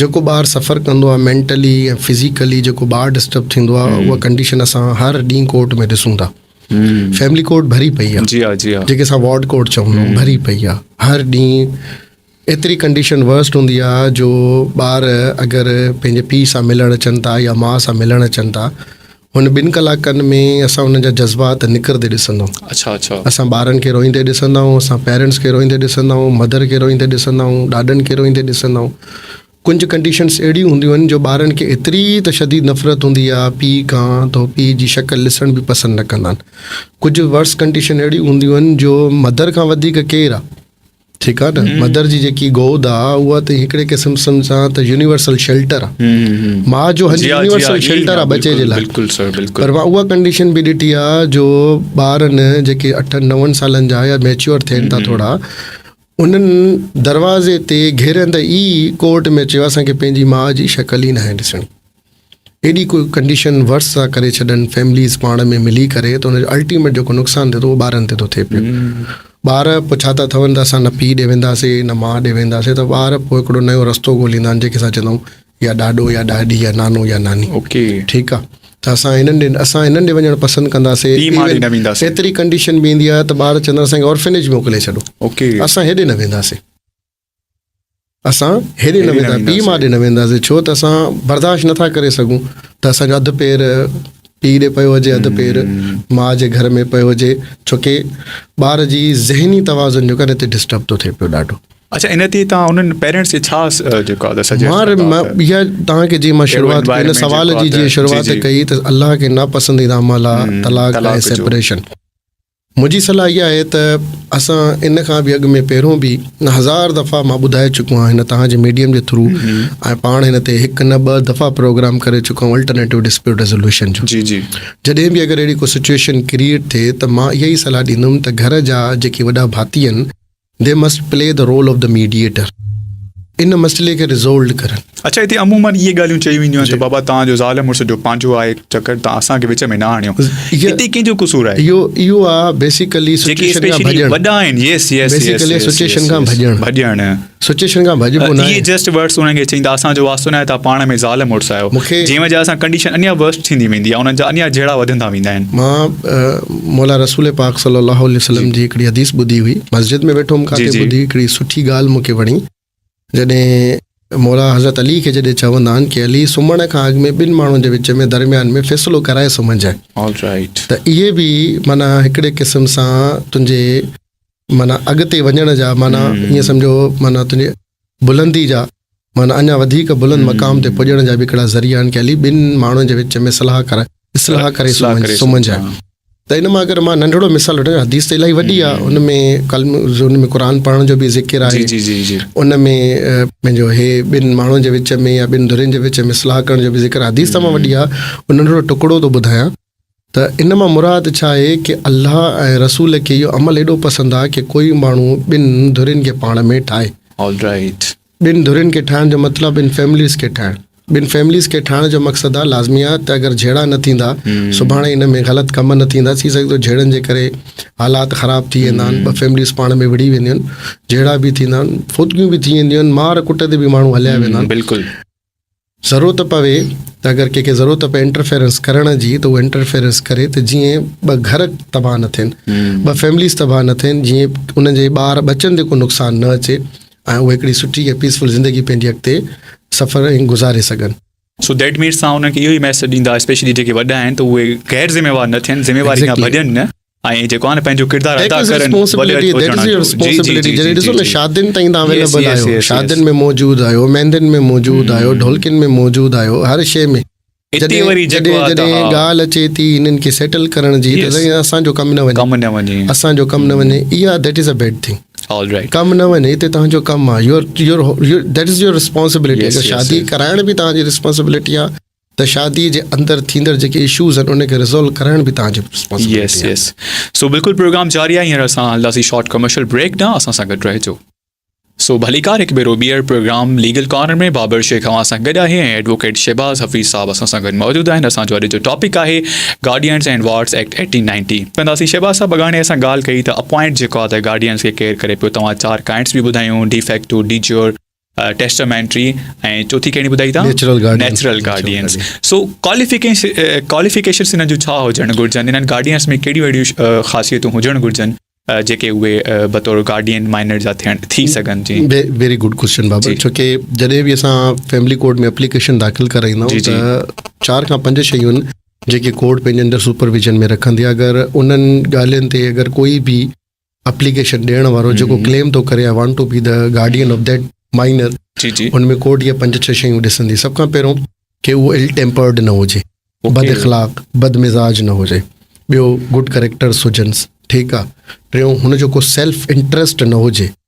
جيڪو ٻار سفر ڪندو آهي مينٽلي ۽ فزيڪلي جيڪو ٻار ڊسٽرب ٿيندو آهي اها ڪنڊيشن اسان هر ڏينهن ڪورٽ ۾ ڏسون ٿا فيملي ڪورٽ ڀري پئي آهي جي جي آ آ جيڪي اسان وارڊ ڪورٽ چون ٿا ڀري پئي آهي هر ڏينهن ايتري ڪنڊيشن ورسٽ هوندي آهي جو ٻار اگر پنهنجي پيء سان ملڻ اچن ٿا يا ماء سان ملڻ اچن ٿا هن ٻن ڪلاڪن ۾ اسان انهن جا جذبات نکرندي ڏسندا آهيون. اڇا اڇا. اسان ٻارن کي روئيندي ڏسندا آهيون، اسان پيرنٽس کي روئيندي ڏسندا آهيون، مدر کي روئيندي ڏسندا آهيون، ڏاڏن کي روئيندي ڏسندا آهيون. ڪنج ڪنڊيشنس اهڙيون هونديون آهن جو ٻارن کي ايتري ته شديد نفرت هوندي آهي پيء کان ته هو پيء جي شڪل ڏسڻ به پسند نه ڪندا آهن. ڪجهه ورس ڪنڊيشن اهڙيون هونديون آهن جو مدر کان وڌيڪ ڪير آهي. ٺيڪ آ نه مدر جي جيڪي گود آ اها ته هڪڙي قسم سان ته يونيورسل شيلٽر آ ماء جو هنج يونيورسل شيلٽر آ بچي جي لاء پر مان اها ڪنڊيشن به ڏٺي آ جو ٻارن جيڪي اٺن نون سالن جا يا ميچيور ٿين ٿا ٿورا انهن دروازي تي گهيرندي ئي ڪورٽ ۾ چيو اسان کي پنهنجي ماء جي شڪل ئي ناهي ڏسڻي ايڏي ڪو ڪنڊيشن ورس ٿا ڪري ڇڏن فيمليز پاڻ ۾ ملي ڪري ته ان جو الٽيميٽ جيڪو نقصان ٿئي ٿو اهو ٻارن تي ٿو ٿئي پيو ٻار پوء ڇا ٿا ٿون ته اسان نه پيء ڏي وينداسين نه ماء ڏي وينداسين ته ٻار پوء هڪڙو نيو رستو ڳوليندا آهن جيڪي اسان چوندا آهيون يا ڏاڏو يا ڏاڏي يا نانو يا ناني ٺيڪ آهي ته اسان انهن ڏي اسان انهن ڏي وڃڻ پسند ڪنداسين ايتري ڪنڊيشن به ايندي آهي ته ٻار چوندا اسانکي اورفنيج موڪلي ڇڏو اسان هيڏي نه وينداسين اسان هيڏي نه ويندا پي مان ڏي نه وينداسي ڇو ته اسان برداشت نٿا ڪري سگهون ته اسانجو اڌ پير پي ڏي پيو هجي اڌ پير ما جي گهر ۾ پيو هجي ڇو ڪي ٻار جي ذهني توازن جو ڪنه تي ڊسٽرب ٿو ٿي پيو ڏاڍو اچھا ان تي تان انن پيرنٽس کي ڇا جيڪو آ سجيسٽ مان بيا تان کي جي مان شروعات ڪئي نه سوال جي جي شروعات ڪئي ته الله کي نا پسنديده عمل آ طلاق ۽ سيپريشن منهنجي صلاح اها آهي ته اسان ان کان به اڳ ۾ پهريون به هزار دفعا مان ٻڌائي چڪو آهيان هن توهان جي ميڊيم جي ٿرو ۽ پاڻ هن تي هڪ نه ٻه دفعا پروگرام ڪري چڪو آهيان الٽرنيٽو ڊسپيوٽ ريزولوشن جو جي جي جڏهن به اگر اهڙي ڪو سچويشن ڪريئيٽ ٿئي ته مان اها ئي صلاح ڏيندم ته گهر جا جيڪي وڏا ڀاتي آهن They must play the role of the mediator. ان مسئلي کي ريزولڊ ڪرن. اڇا هتي عمومن اهي ڳالهيون چيون وينديون آهن ته بابا توهان جو زال مڙس جو پنهنجو آهي چڪر توهان اسان کي وچ ۾ نه آڻيو هتي ڪنهن جو قصور آهي اهو اهو آهي بيسيڪلي جيڪي سچويشن کان اسپيشلي ڀڄڻ وڏا آهن yes yes yes Basically yes situation کان ڀڄڻ. ڀڄڻ سچويشن کان ڀڄبو نه اهي آهي جسٽ ورڊس انهن کي چئين ته اسان جو واسطو ناهي توهان پاڻ ۾ زال مڙس آهيو مونکي- جنهن وجه سان ڪنڊيشن اڃا ورسٽ ٿيندي ويندي آهي انهن جا اڃا جهيڙا وڌندا ويندا آهن مان مولان رسول پاڪ صلي الله عليه وسلم جي هڪڙي حديث ٻڌي هئي مسجد ۾ ويٺو هوم ڪاٿي ٻڌي هڪڙي سٺي ڳالهه مون کي وڻي جڏهن مولان حضرت علي کي جڏهن چوندا آهن ڪي علي سمهڻ کان اڳ ۾ ٻن ماڻهن جي وچ ۾ درميان ۾ فيصلو ڪرائي سمهنجء Alright. ته اهي به معنيٰ هڪڙي قسم سان تنهنجي معنيٰ اڳتي وڃڻ جا معنيٰ ائين سمجهو معنيٰ تنهنجي بلندي جا معنيٰ اڃا وڌيڪ بلند مقام تي پڄڻ جا به هڪڙا ذريعا آهن ڪي علي ٻن ماڻهن جي وچ ۾ صلاح ڪرائي اصلاح ڪري سمجهه آهي ته ان مان اگر مان ننڍڙو مثال وٺان حديث ته الائي وڏي آهي ان ۾ قلم ان ۾ قرآن پڙهڻ جو به ذڪر آهي ان ۾ پنهنجو هي ٻن ماڻهن جي وچ ۾ يا ٻن ڌرين جي وچ ۾ صلاح ڪرڻ جو به ذڪر حديث تمام وڏي آهي ننڍڙو ٽڪڙو ٿو ٻڌايان ته ان مان مراد ڇا آهي ڪي الله ۽ رسول کي اهو عمل ايڏو پسند آهي ڪي ڪوئي ماڻهو ٻن ڌرين کي پاڻ ۾ ٺاهي. All right. ٻن ڌرين کي ٺاهڻ جو مطلب ٻن فيمليز کي ٺاهڻ. ٻن فيمليز کي ٺاهڻ جو مقصد آهي لازمي آهي ته اگر جهيڙا نه ٿيندا سڀاڻي ان ۾ غلط ڪم نه ٿيندا ٿي سگهي ٿو جهيڙن جي ڪري حالات خراب ٿي ويندا آهن ٻه فيمليز پاڻ ۾ وڙهي وينديون آهن جهيڙا به ٿيندا آهن فوتگيون به ٿي وينديون آهن مار ڪٽ تي به ماڻهو هليا ويندا آهن بلڪل ضرورت پوي ته اگر ڪنهن کي ضرورت پئي انٽرفيرنس ڪرڻ جي ته هو انٽرفيرنس ڪري ته جيئن ٻه گهر تباهه نه ٿين ٻه فيمليز تباهه نه ٿين جيئن ان جي ٻار ٻچن تي ڪو نقصان نه اچي ۽ اهي هڪڙي سٺي ۽ پيسفل زندگي پنهنجي اڳتي سفر ائين گذاري سگهن. سو ديٽ مينس تهان انهن کي اهو ئي ميسيج ڏيندا اسپيشلي جيڪي وڏا آهن ته اهي غير ذميوار نه ٿين ذميواري کان ڀڄن نه. ائين جيڪو آهي نه پنهنجو ڪردار ادا ڪرڻ وليت هجڻ جو جي جي جي جي ڏسو نه شادين تائين تان اويليبل آهيو شادين ۾ موجود آهيو مهندين ۾ موجود آهيو ڍولڪين ۾ موجود آهيو هر شي ۾ اتي وري جيڪو آهي ته جڏهن ڳالهه اچي ٿي هنن کي سيٽل ڪرڻ جي ته سائين اسان جو ڪم نه وڃي ڪم نه وڃي اسان جو ڪم نه وڃي اها that is a bad thing ڪم نه وڃي هتي تنهنجو ڪم آهي your your that is your responsibility اگر شادي ڪرائڻ به تنهنجي رسپانسبلٽي آهي ته شادي جي اندر ٿيندڙ جيڪي اشوز آهن ان کي ريزالو ڪرائڻ به تان جو ريسپانسبلٽي يس يس سو بلڪل پروگرام جاري آهي هينئر اسان هلنداسي شارٽ ڪمرشل بريڪ ڏانهن اسان سان گڏ رهجو سو ڀليڪار هڪ ڀيرو ٻيهر program legal corner ۾ Babar Shaikh اوهان سان گڏ آهي ۽ ايڊووڪيٽ شهباز حفيظ صاحب اسان سان گڏ موجود آهن اسان جو اڄ جو ٽاپڪ آهي guardians and wards act eighteen ninety ڪنداسي شهباز صاحب اڳاڻي اسان ڳالهه ڪئي ته اپوائنٽ جيڪو آهي ته گارڊينز کي ڪيئر ڪري پيو توهان چار ڪائنٽس به ٻڌايون de facto de jure testamentary ۽ چوٿين ڪهڙي ٻڌائي ٿا؟ Natural guardians. Natural guardians. So qualification qualifications هنن جون ڇا هجڻ گهرجن؟ هنن گارڊينس ۾ ڪهڙيون اهڙيون خاصيتون هجڻ گهرجن جيڪي اهي بطور گارڊين مائنر جا ٿيڻ ٿي سگهن؟ جي ويري گڊ ڪويشچن بابر ڇو ڪي جڏهن به اسان فيملي ڪورٽ ۾ اپليڪيشن داخل ڪرائيندا آهيون ته چار کان پنج شيون جيڪي ڪورٽ پنهنجي اندر سپرويجن ۾ رکندي آهي اگر انهن ڳالهين تي اگر ڪوئي به اپليڪيشن ڏيڻ وارو جيڪو ڪليم ٿو ڪري I want to be the guardian of that minor ان ۾ ڪورٽ اهي پنج ڇهه شيون ڏسندي سڀ کان پهريون ڪي اهو ايل ٽيمپرڊ نه هجي بد اخلاق بد مزاج نه هجي ٻيو گڊ ڪريڪٽرس هجنس ٺيڪ آ ٽيون هن جو ڪو سيلف انٽرسٽ نه هجي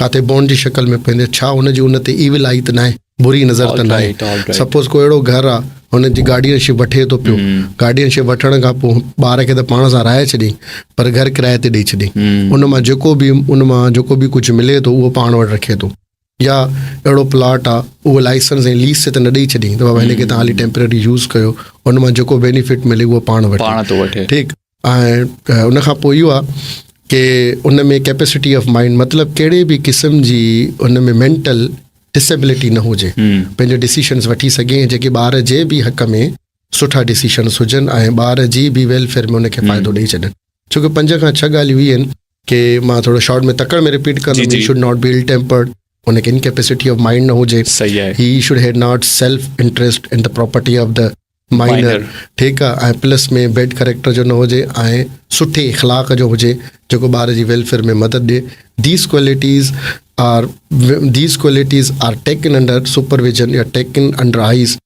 ڪاتي بونڊ جي شڪل ۾ پوندي ڇا هن جي ان تي ايول آئي ته ناهي بري نظر ته ناهي سپوز ڪو اهڙو گهر آ هن جي گارڊين شپ وٺي ٿو پيو گارڊين شپ وٺڻ کان پوء ٻار کي ته پاڻ سان رهائي ڇڏي پر گهر ڪرايي تي ڏئي ڇڏي ان مان جيڪو به ان مان جيڪو به ڪجهه ملي ٿو اهو پاڻ وٽ رکي ٿو يا اهڙو پلاٽ آ اهو لائسنس ۽ ليز تي ته نه ڏئي ڇڏي ته بابا هن کي توهان هلي ٽيمپرري يوز ڪيو ان مان جيڪو بينيفٽ ملي اهو پاڻ وٺي ٺيڪ ۽ ان کان پوء اهو آ ڪي ان ۾ ڪيپيسٽي آف مائنڊ مطلب ڪهڙي به قسم جي ان ۾ مينٽل ڊسيبلٽي نه هجي پنهنجو ڊيسيشنز وٺي سگهي ۽ جيڪي ٻار جي به حق ۾ سٺا ڊيسيشنز هجن ۽ ٻار جي به ويلفيئر ۾ ان کي فائدو ڏئي ڇڏن ڇو ڪي پنج کان ڇهه ڳالهيون هي آهن ڪي مان ٿورو شارٽ ۾ تڪڙ ۾ رپيٽ ڪندم he should not be ill tempered ان کي انڪيپيسٽي آف مائنڊ نه هجي he should had not self interest in the property of the minor, ٺيڪ آ ۽ پلس ۾ بيڊ ڪريڪٽر جو نه هجي ۽ سٺي اخلاق جو هجي جيڪو ٻار جي ويلفيئر ۾ مدد ڏي these qualities are these qualities are taken under supervision يا taken under eyes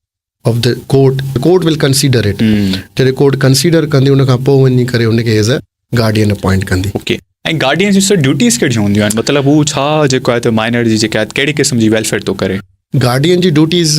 of the court court will consider it جڏهن ڪورٽ ڪنسيڊر ڪندي ان کان پوء وڃي ڪري ان کي ايز ا گارڊين اپوائنٽ ڪندي اوڪي ۽ گارڊين جي سر ڊيوٽيز ڪهڙيون هونديون آهن مطلب هو ڇا جيڪو آهي ته مائنر جي جيڪا آهي ڪهڙي قسم جي ويلفيئر ٿو ڪري گارڊين جي ڊيوٽيز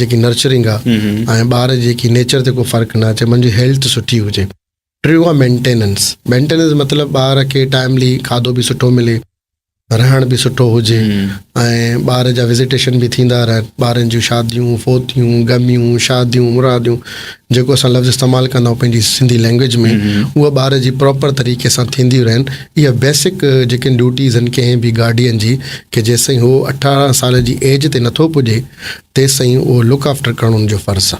جيڪي نرچرنگ آ ۽ ٻار جيڪي نيچر تي ڪو فرق نه اچي منجي هيلٿ سٺي هجي ٽيو آ مينٽيننس مينٽيننس مطلب ٻار کي ٽائملي کاڌو به سٺو ملي رهڻ به سٺو هجي ۽ ٻار جا وزيٽيشن به ٿيندا رهن ٻارن جون شاديون فوتيون غميون شاديون مراديون جيڪو اسان لفظ استعمال ڪندا آهيون پنهنجي سنڌي لينگويج ۾ اها ٻار جي پراپر طريقي سان ٿينديون رهن اها بيسڪ جيڪي ڊيوٽيز آهن ڪنهن به گارڊين جي ڪي جيسين هو اٺارهن سال جي ايج تي نٿو پڄي تيسين اهو لڪ آفٽر قانون جو فرض آ.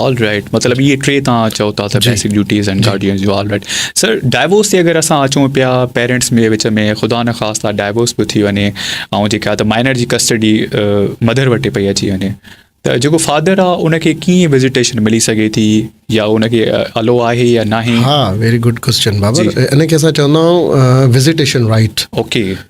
آل رائٽ مطلب اهي ٽي توهان چئو ٿا ته بيسڪ ڊيوٽيز اينڊ گارڊينز جو آل رائٽ سر ڊائيورس تي اگر اسان اچون پيا پيرنٽس ۾ وچ ۾ خدا نه خاصا ڊائيورس به ٿي وڃي ۽ جيڪا ته مائنر جي ڪسٽڊي مدر وٽ پئي اچي وڃي ته جيڪو فادر آ ان کي ڪيئن وزيٽيشن ملي سگهي ٿي يا ان کي الو آهي يا ناهي ها ويري گڊ ڪويسچن بابر ان کي اسان چوندا آهيون وزيٽيشن رائيٽ اوڪي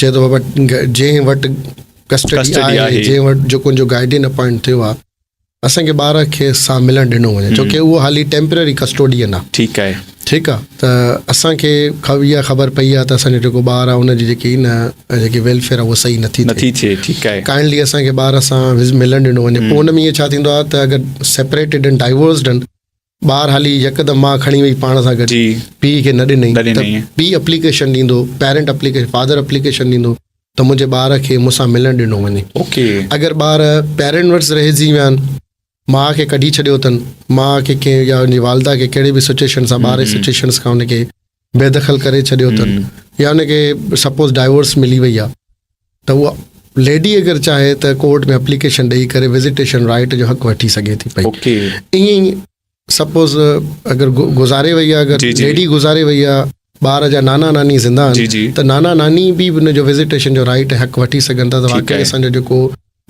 چئي ٿو بابا جنهن وٽ ڪسٽڊي آهي جنهن وٽ جو ڪنهن جو گائيڊين اپوائنٽ ٿيو آهي اسان کي ٻار کي سا ملڻ ڏنو وڃي ڇو ڪي اهو حالي ٽيمپرري ڪسٽوڊين آهي ٺيڪ آهي ٺيڪ آهي ته اسان کي خبر خبر پئي آهي ته اسان جو جيڪو ٻار آهي ان جي جيڪي نه جيڪي ويلفيئر آهي اهو صحيح نٿي نٿي ٿئي ٺيڪ آهي ڪائنڊلي اسان کي ٻار سان ملڻ ڏنو وڃي پوء ان ۾ ڇا ٿيندو آهي ته اگر سيپريٽيڊ ان ڊائيورسڊ ان ٻار هلي يڪ دم ماء کڻي وئي پاڻ سان گڏ پيء کي نه ڏنئي ته پيء اپليڪيشن ڏيندو پيرنٽ اپليڪيشن فادر اپليڪيشن ڏيندو ته منهنجي ٻار کي مون سان ملڻ ڏنو وڃي اگر ٻار پيرنٽ ورس رهجي ويا آهن ماء کي ڪڍي ڇڏيو اٿن ماء کي ڪنهن يا ان جي والده کي ڪهڙي به سچويشن سان ٻار جي سچويشنس کان ان کي بي دخل ڪري ڇڏيو اٿن يا ان کي سپوز ڊائيورس ملي وئي آهي ته اها ليڊي اگر چاهي ته ڪورٽ ۾ اپليڪيشن ڏيئي ڪري وزيٽيشن رائٽ جو حق وٺي سگهي ٿي پئي ائين ئي سپوز اگر گذاري وئي آهي اگر ليڊي گذاري وئي آهي ٻار جا نانا ناني زنده آهن ته نانا ناني به ان جو وزيٽيشن جو رائٽ حق وٺي سگهن ٿا ته واقعي اسان جو جيڪو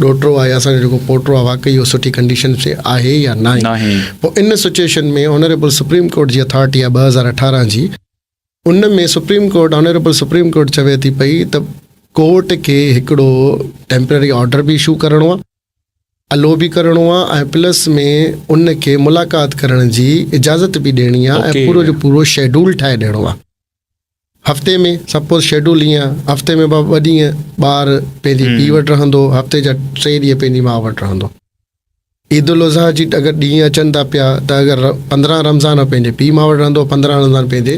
ڏوهٽو آهي اسان جو جيڪو پوٽو آهي واقعي اهو سٺي ڪنڊيشن ۾ آهي يا ناهي پوء ان سچويشن ۾ آنريبل سپريم ڪورٽ جي اٿارٽي آهي ٻه هزار اٺارهن جي ان ۾ supreme court honourable supreme court چوي ٿي پئي ته ڪورٽ کي هڪڙو ٽيمپرري آرڊر به اشو ڪرڻو آهي الو به ڪرڻو آهي ۽ پلس ۾ ان کي ملاقات ڪرڻ جي اجازت به ڏيڻي آهي ۽ پورو جو پورو شيڊول ٺاهي ڏيڻو آهي هفتي ۾ سپوز شيڊول ايئن آهي هفتي ۾ ٻه ڏينهن ٻار پنهنجي پيء وٽ رهندو هفتي جا ٽي ڏينهن پنهنجي ماء وٽ رهندو عيد الاضحيٰ جي اگر ڏينهن اچن ٿا پيا ته اگر پندرهن رمضان پنهنجي پيء ماء وٽ رهندو پندرهن رمضان پنهنجي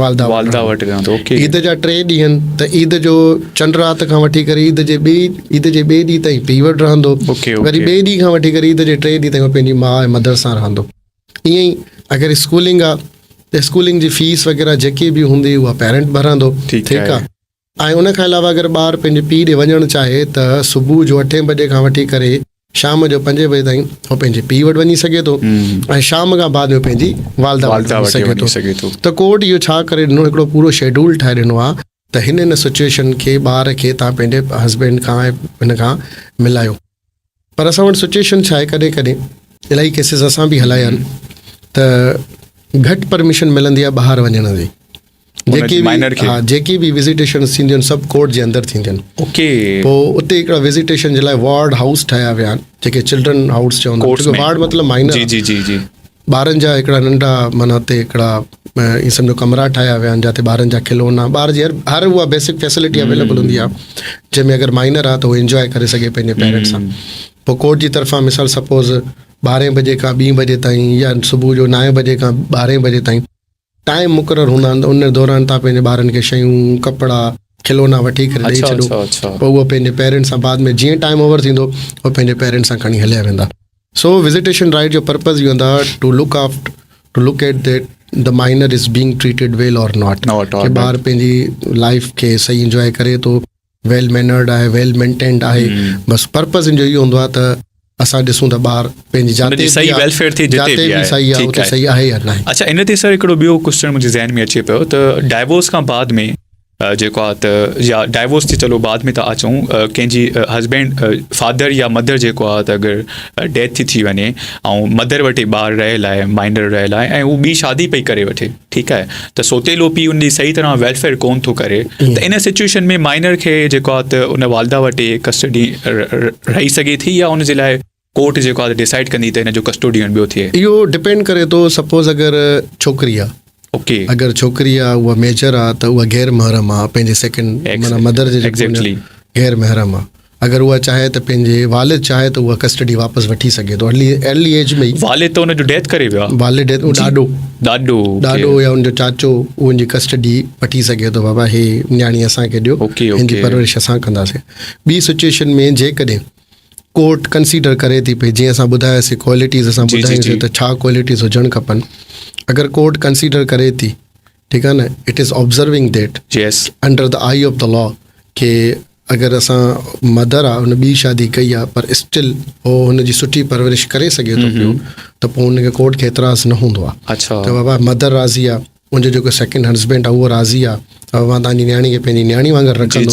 والده والده وٽ رهندو عيد جا ٽي ڏينهن ته عيد جو چنڊ رات کان وٺي ڪري عيد جي ٻي عيد جي ٻئي ڏينهن تائين پيء وٽ رهندو وري ٻئي ڏينهن کان وٺي ڪري عيد جي ٽي ڏينهن تائين پنهنجي ماء ۽ مدر سان رهندو ايئن ئي اگر اسڪولنگ آ ته اسڪولنگ جي فيس وغيره جيڪي به هوندي اها پيرنٽ ڀرندو ٺيڪ آ ۽ ان کان علاوه اگر ٻار پنهنجي پيء ڏي وڃڻ چاهي ته صبح جو اٺين بجي کان وٺي ڪري شام جو پنجين بجي تائين هو پنهنجي پيء وٽ وڃي سگهي ٿو ۽ شام کان بعد ۾ پنهنجي والده وٽ وڃي سگهي ٿو ته ڪورٽ اهو ڇا ڪري ڏنو هڪڙو پورو شيڊول ٺاهي ڏنو آ ته هن هن سچويشن کي ٻار کي تان پنهنجي هسبينڊ کان ۽ هن کان ملايو پر اسان وٽ سچوئيشن ڇا آهي ڪڏهن ڪڏهن الائي ڪيسز اسان به هلايا آهن ته گهٽ پرميشن ملندي آهي ٻاهر وڃڻ جي جيڪي ها جيڪي به وزيٽيشن ٿينديون آهن سڀ ڪورٽ جي اندر ٿينديون آهن اوڪي پوء اتي هڪڙا وزيٽيشن جي لاء وارڊ هائوس ٺاهيا ويا آهن جيڪي چلڊرن هائوس چوندا آهن وارڊ مطلب مائنر جي جي جي جي ٻارن جا هڪڙا ننڍا معنيٰ اتي هڪڙا ائين سمجهو ڪمرا ٺاهيا ويا آهن جتي ٻارن جا کلونا ٻار جي هر اها بيسڪ فيسلٽي اويليبل هوندي آهي جنهن ۾ اگر مائنر آهي ته هو انجواء ڪري سگهي پنهنجي پيرنٽ سان پوء ڪورٽ جي طرفان مثال سپوز ٻارهين بجي کان ٻي بجي تائين يا صبح جو نائين بجي کان ٻارهين بجي تائين ٽائيم مقرر هوندا آهن ته ان دوران توهان پنهنجي ٻارن کي شيون، ڪپڙا، کلونا وٺي ڪري ڏئي ڇڏو پوء هو پنهنجي پيرنٽس سان بعد ۾ جيئن ٽائيم اوور ٿيندو هو پنهنجي پيرنٽس سان کڻي هليا ويندا سو وزيٽيشن رائيٽ جو پرپز اهو هوندا to look after to look at that the minor is being treated well or not ڪي ٻار پنهنجي لائيف کي صحيح انجواء ڪري ٿو ويل مينرڊ آهي ويل مينٽينڊ آهي بس پرپز ان جو اهو هوندو آهي ته اسان ڏسون ته ٻار پنهنجي جاء تي صحيح ويلفيئر ٿي جتي به آهي صحيح آهي اتي صحيح آهي يا نه اچھا ان تي سر هڪڙو ٻيو ڪويسچن منهنجي ذهن ۾ اچي پيو ته ڊائيورس کان بعد ۾ جيڪو آهي ته يا ڊائيورس تي چلو بعد ۾ ٿا اچون ڪنهن جي هسبينڊ فادر يا مدر جيڪو آهي ته اگر ڊيٿ ٿي ٿي وڃي ۽ مدر وٽي ٻار رهيل آهي مائنر رهيل آهي ۽ هو ٻي شادي پئي ڪري وٺي ٺيڪ آهي ته سوتيلو پي ان جي صحيح طرح ويلفيئر ڪون ٿو ڪري ته ان سچويشن ۾ مائنر کي جيڪو آهي ته ان والده وٽ ڪسٽڊي رهي سگهي ٿي يا ان جي لاء ڪورٽ جيڪو آهي ڊيسائيڊ ڪندي ته ان جو ڪسٽوڊين ٻيو ٿئي اهو ڊپينڊ ڪري ٿو سپوز اگر ڇوڪري آهي اوڪي اگر ڇوڪري آهي اها ميجر آهي ته اها غير محرم آهي پنهنجي سيڪنڊ مطلب مدر جي غير محرم آهي اگر اها چاهي ته پنهنجي والد چاهي ته اها ڪسٽڊي واپس وٺي سگهي ٿو ارلي ارلي ايج ۾ والد ته ان جو ڊيٿ ڪري ويو والد ڊيٿ او ڏاڏو ڏاڏو ڏاڏو يا ان جو چاچو ان جي ڪسٽڊي وٺي سگهي ٿو بابا هي نياڻي اسان کي ڏيو ان جي پرورش اسان ڪنداسين ٻي سچويشن ۾ جيڪڏهن ڪورٽ ڪنسيڊر ڪري ٿي پئي جيئن اسان ٻڌاياسي ڪوالٽيز اسان ٻڌاياسي ته ڇا ڪوالٽيز هجڻ کپن اگر ڪورٽ ڪنسيڊر ڪري ٿي ٺيڪ آهي نه it is observing that yes under the eye of the law کي اگر اسان مدر آ ان بي شادي ڪئي آ پر اسٽل هو ان جي سٺي پرورش ڪري سگهي ٿو پيو ته پو ان کي ڪورٽ کي اعتراض نه هوندو آ اچھا ته بابا مدر راضي آ ان جو جيڪو سيڪنڊ هسبينڊ آ اهو راضي آ اوهان تان جي نياڻي کي پنهنجي نياڻي وانگر رکندو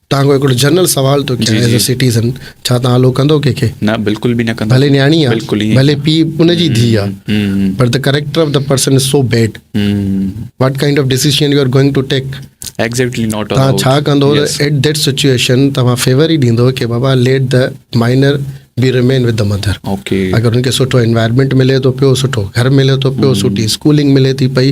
تان کان هڪڙو جنرل سوال ٿو ڪيان ايز ا سٽيزن ڇا تان هلو ڪندو ڪنهن کي نه بالڪل به نه ڪندو ڀلي نياڻي آ ڀلي پي ان جي ڌي آ پر ته character of the person is so bad what kind of decision you are going to take exactly not ٿا ڇا ڪندو ايٽ ڌيٽ سچويشن ته فيور ئي ڏيندو ڪي بابا let the minor be remain with the mother okay اگر ان کي سٺو انوائرمنٽ ملي ٿو پيو سٺو گهر ملي ٿو پيو سٺي اسڪولنگ ملي ٿي پئي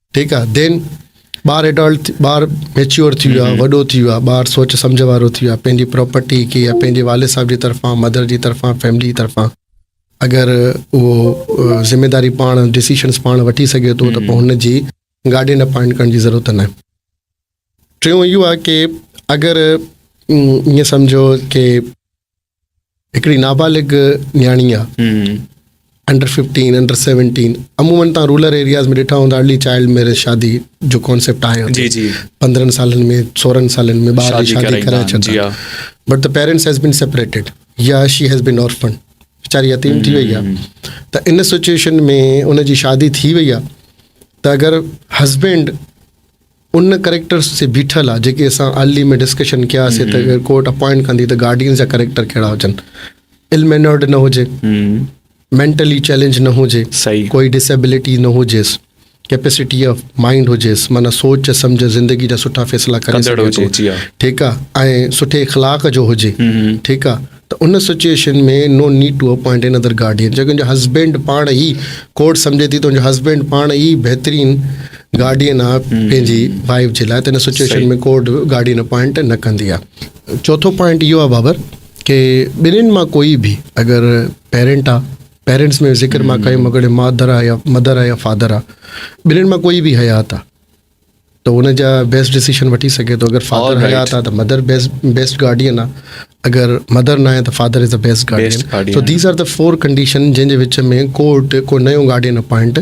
ٺيڪ آ دين ٻار ايڊلٽ ٻار ميچيور ٿي ويو آ وڏو ٿي ويو آ ٻار سوچ سمجھ وارو ٿي ويو آ پنهنجي پراپرٽي کي يا پنهنجي والد صاحب جي طرفان مدر جي طرفان فيملي جي طرفان اگر اهو ذميداري پاڻ ڊيسيشنز پاڻ وٺي سگھي ٿو ته پوء هن جي گارڊين اپوائنٽ ڪرڻ جي ضرورت نه آهي ٽيون اهو آ ڪي اگر ائين سمجھو ڪي هڪڙي نابالغ نياڻي آ انڊر ففٽين انڊر سيونٽين عموماً تان رولر ايرياز ۾ ڏٺا هوندا ارلي چائلڊ ميرج شادي جو ڪانسيپٽ آهي جي جي پندرهن سالن ۾ سورهن سالن ۾ ٻار جي شادي ڪرائي ڇڏي بٽ ته پيرنٽس هيز بين سيپريٽيڊ يا شي هيز بين اورفن ويچاري يتيم ٿي وئي آهي ته ان سچويشن ۾ ان جي شادي ٿي وئي آهي ته اگر هسبينڊ ان ڪريڪٽرس جي بيٺل آ جيڪي اسان ارلي ۾ ڊسڪشن ڪيا سي ته اگر ڪورٽ اپوائنٽ ڪندي ته گارڊينز جا ڪريڪٽر ڪهڙا هجن ال مينرڊ نه هجي مينٽلي چيلنج نه هجي ڪوئي ڊسيبلٽي نه هجيس ڪيپيسٽي آف مائنڊ هجيس معنی سوچ سمجھ زندگي جا سٺا فيصلا ڪري سگهي ٿو ٺيڪ آ ۽ سٺي اخلاق جو هجي ٺيڪ آ ته ان situation ۾ no need to appoint another guardian جيڪڏهن تنهنجو هسبينڊ پاڻ ئي ڪورٽ سمجهي ٿي تنهنجو هسبينڊ پاڻ ئي بهترين گارڊين آهي پنهنجي وائيف جي لاء ته ان سچوئيشن ۾ ڪورٽ گارڊين اپائنٽ نه ڪندي آهي چوٿون پوائنٽ اهو آهي بابر ڪي ٻنهين مان ڪوئي به اگر پيرنٽ آهي پيرنٽس ۾ ذڪر مان ڪيم اگر مادر آهي يا مدر آهي يا فادر آهي ٻنهين مان ڪوئي به حيات آهي ته ان جا بيسٽ ڊيسيشن وٺي سگهي ٿو اگر فادر حيات آهي ته مدر بيسٽ گارڊين آهي اگر مدر نه آهي ته father is a best guardian so these are the four condition جنهن جي وچ ۾ ڪورٽ ڪو نيو گارڊين اپوائنٽ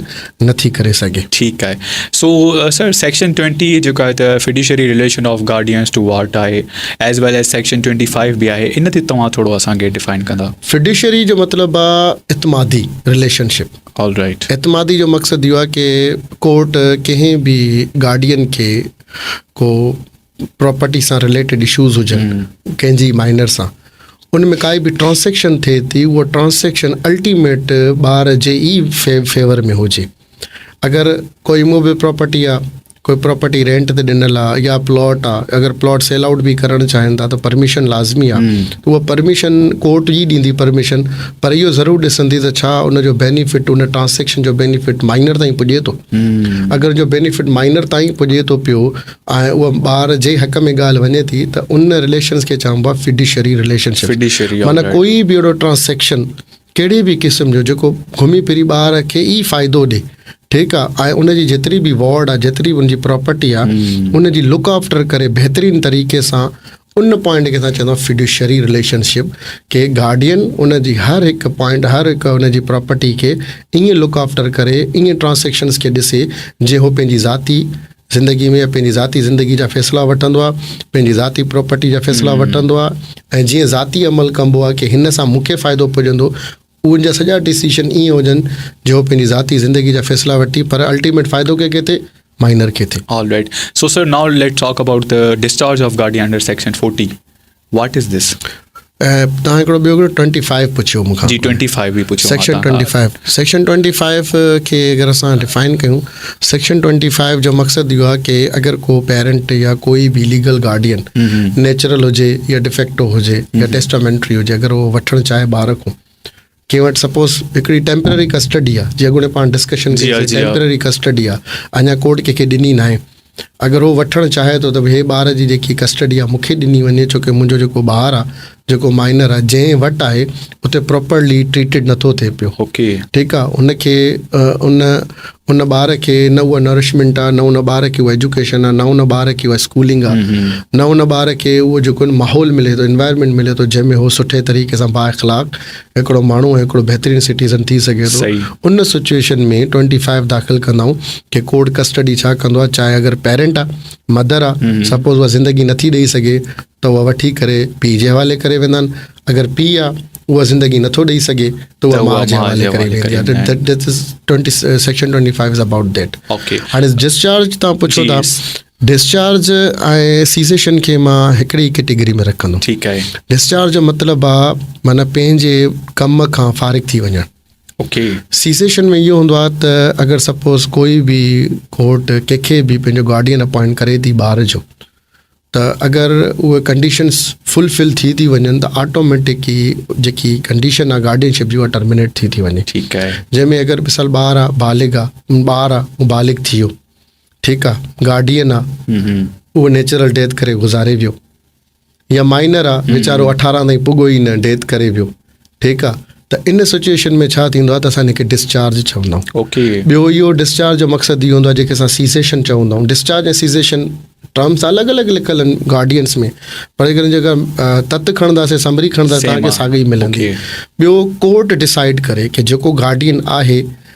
نٿي ڪري سگهي ٺيڪ آهي سو سر سيڪشن ٽوينٽي جيڪا آهي ته fiduciary relation of guardians to ward آهي as well as section twenty five به آهي ان تي توهان ٿورو اسانکي ڊفائن ڪندا فيڊيشري جو مطلب آهي اعتمادي ريليشنشپ اعتمادي جو مقصد اهو آهي ڪي ڪورٽ ڪنهن به گارڊين کي ڪو پراپرٽي سان رليٽيڊ اشوز هجن ڪنهن جي مائنر سان ان ۾ ڪائي به ٽرانسيڪشن ٿئي ٿي اها ٽرانسيڪشن الٽيميٽ ٻار جي ئي فيور ۾ هجي اگر ڪوئي موبي پراپرٽي آهي ڪوئي پراپرٽي رينٽ تي ڏنل آ يا پلاٽ آ اگر پلاٽ سيل آئوٽ به ڪرڻ چاهين ٿا ته پرميشن لازمي آ اها پرميشن ڪورٽ ئي ڏيندي پرميشن پر اهو ضرور ڏسندي ته ڇا ان جو بينيفٽ ان ٽرانسيڪشن جو بينيفٽ مائنر تائين پڄي ٿو اگر جو بينيفٽ مائنر تائين پڄي ٿو پيو ۽ اها ٻار جي حق ۾ ڳالهه وڃي ٿي ته ان رليشنز کي چئبو آ فڊيشري رليشن شپ معنيٰ ڪوئي به اهڙو ٽرانسيڪشن ڪهڙي به قسم جو جيڪو گهمي ڦري ٻار کي ئي فائدو ڏي ٺيڪ آ ۽ ان جي جيتري به وارڊ آ جيتري به ان جي پراپرٽي آ ان جي لڪ آفٽر ڪري بهترين طريقي سان ان پوائنٽ کي اسان چوندا آهيون فيڊوشري رليشن شپ ڪي گارڊين ان جي هر هڪ پوائنٽ هر هڪ ان جي پراپرٽي کي ائين لڪ آفٽر ڪري ائين ٽرانسيڪشنز کي ڏسي جي هو پنهنجي ذاتي زندگي ۾ پنهنجي ذاتي زندگي جا فيصلا وٺندو آهي، پنهنجي ذاتي پراپرٽي جا فيصلا وٺندو آهي ۽ جيئن ذاتي عمل ڪبو آهي ڪي هن سان مون کي فائدو پڄندو اهن جا سڄا ڊيسيشن ايئن هجن جو هو پنهنجي ذاتي زندگي جا فيصلا وٺي پر الٽيميٽ فائدو ڪنهن کي ٿئي مائنر کي ٿئي. Alright. So sir, now let's talk about the discharge of Gadiander section 40. واٽ از دس تان هڪڙو ٻيو گهڻو ٽوئنٽي فائيو پڇيو مونکان جي ٽوئنٽي فائيو به پڇيو section twenty five section twenty five کي اگر اسان ڊيفائن ڪيون سيڪشن ٽوئنٽي فائيو جو مقصد اهو آهي ڪي اگر ڪو پيرنٽ يا ڪوئي به ليگل گارڊين نيچرل هجي يا ڊيفيڪٽو هجي يا ٽيسٽامينٽري هجي اگر هو وٺڻ چاهي ٻار کون ڪنهن وٽ سپوز هڪڙي ٽيمپرري ڪسٽڊي آهي جي اڳوڻي پاڻ ڊسڪشن ڪئي ٽيمپرري ڪسٽڊي آهي اڃا ڪورٽ ڪنهن کي ڏني ناهي اگر هو وٺڻ چاهي ٿو ته هي ٻار جي جيڪي ڪسٽڊي آهي مون کي ڏني وڃي ڇو ڪي منهنجو جيڪو ٻار آهي جيڪو مائنر آهي جنهن وٽ آهي اتي پراپرلي ٽريٽيڊ نٿو ٿئي پيو اوڪي ٺيڪ آهي ان کي ان ان ٻار کي نه اها نرشمنٽ آهي نه ان ٻار کي اها ايجوڪيشن آهي نه ان ٻار کي اها اسڪولنگ آهي نه ان ٻار کي اهو جيڪو ماحول ملي ٿو انوائرمنٽ ملي ٿو جنهن ۾ هو سٺي طريقي سان با اخلاق هڪڙو ماڻهو ۽ هڪڙو بهترين سٽيزن ٿي سگهي ٿو ان سچويشن ۾ ٽوئنٽي فائيو داخل ڪندائون ڪي ڪورٽ ڪسٽڊي ڇا ڪندو آهي چاهي اگر پيرنٽ آهي مدر آهي سپوز اها زندگي نٿي ڏيئي سگهي ته اها وٺي ڪري پيء جي حوالي ڪري ويندا آهن اگر پيء آهي اها زندگي نٿو ڏيئي سگهي ته اها ماء جي حوالي ڪري ويندي آهي section twenty five is about that هاڻي ڊسچارج تان پڇو ٿا ڊسچارج ۽ سيسيشن کي مان هڪڙي ئي ڪيٽيگري ۾ رکندم ٺيڪ آهي ڊسچارج جو مطلب آ معنيٰ پنهنجي ڪم کان فارغ ٿي وڃڻ اوڪي سيسيشن ۾ اهو هوندو آ ته اگر سپوز ڪوئي به ڪورٽ ڪنهن کي به پنهنجو گارڊين اپوائنٽ ڪري ٿي ٻار جو ته اگر اهي ڪنڊيشنس فل فل ٿي ٿي وڃن ته آٽوميٽڪ ئي جيڪي ڪنڊيشن آ گارڊين شپ جي اها ٽرمينيٽ ٿي ٿي وڃي ٺيڪ آهي جنهن ۾ اگر مثال ٻار آ بالغ آ ٻار آ مبالغ ٿي ويو ٺيڪ آ گارڊين آ اهو نيچرل ڊيٿ ڪري گذاري ويو يا مائنر آ ويچارو اٺارهن تائين پڳو ئي نه ڊيٿ ڪري ويو ٺيڪ آ ته ان سچويشن ۾ ڇا ٿيندو آ ته اسان کي ڊسچارج چوندا آهيون ٻيو اهو ڊسچارج جو مقصد اهو هوندو آ جيڪي اسان سيزيشن چوندا آهيون ڊسچارج ۽ سيزيشن ٽرمس الڳ الڳ لکل آهن گارڊينس ۾ پر اگر جيڪا تت کڻنداسي سمري کڻنداسي تان کي ساڳي ملندي ٻيو ڪورٽ ڊسائيڊ ڪري ڪي جيڪو گارڊين آهي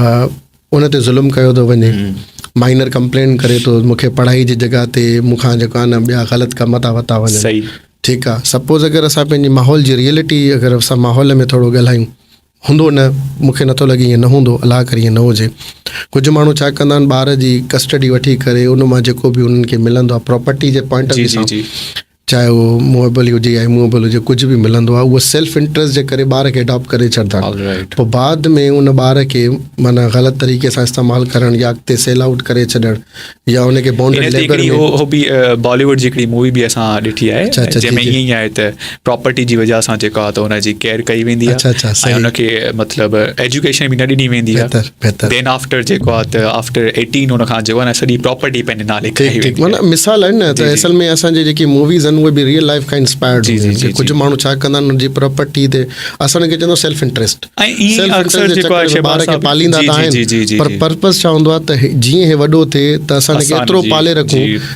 ان تي ظلم ڪيو ٿو وڃي مائنر ڪمپلينٽ ڪري ٿو مون کي پڙهائي جي جڳهه تي مون کان جيڪو آهي نه ٻيا غلط ڪم ٿا وتا وڃن صحيح ٺيڪ آ سپوز اگر اسا پنهنجي ماحول جي ريئلٽي اگر اسا ماحول ۾ ٿورو ڳالهايون هوندو نه مون کي نٿو لڳي ائين نه هوندو الله ڪري ائين نه هجي ڪجهه ماڻهو ڇا ڪندا آهن ٻار جي ڪسٽڊي وٺي ڪري ان مان جيڪو به انهن کي ملندو آ پراپرٽي جي پوائنٽ آف ويو سان چاهي اهو موويبل هجي يا اموويبل هجي ڪجهه به ملندو آهي اهو سيلف انٽرسٽ جي ڪري ٻار کي اڊاپٽ ڪري ڇڏدا آهن پوء بعد ۾ ان ٻار کي معنيٰ غلط طريقي سان استعمال ڪرڻ يا اڳتي سيل آئوٽ ڪري ڇڏڻ يا ان کي بونڊ ليبر ۾ هو به باليووڊ جي هڪڙي مووي به اسان ڏٺي آهي اچھا اچھا جنهن ۾ ائين آهي ته پراپرٽي جي وجهه سان جيڪا ته ان جي ڪيئر ڪئي ويندي آهي اچھا اچھا ۽ ان کي مطلب ايجوڪيشن به نه ڏني ويندي آهي دين آفٽر جيڪو آ ته آفٽر 18 ان کان جو آ نه سڄي پراپرٽي پنهنجي نالي ٺيڪ ٺيڪ معنيٰ مثال آهن نه ته اصل ۾ اسان جي جيڪي موويز آهن اهي به ريئل لائف کان انسپائرڊ جي جي ڪجھ ماڻهو ڇا ڪندا آهن ان جي پراپرٽي تي اسان ان کي چوندو سيلف انٽريسٽ سيلف انٽريسٽ جيڪو آهي ٻار کي پاليندا آهن پر پرپس ڇا هوندو آ ته جيئن هي وڏو ٿئي ته اسان کي ايترو پالي رکون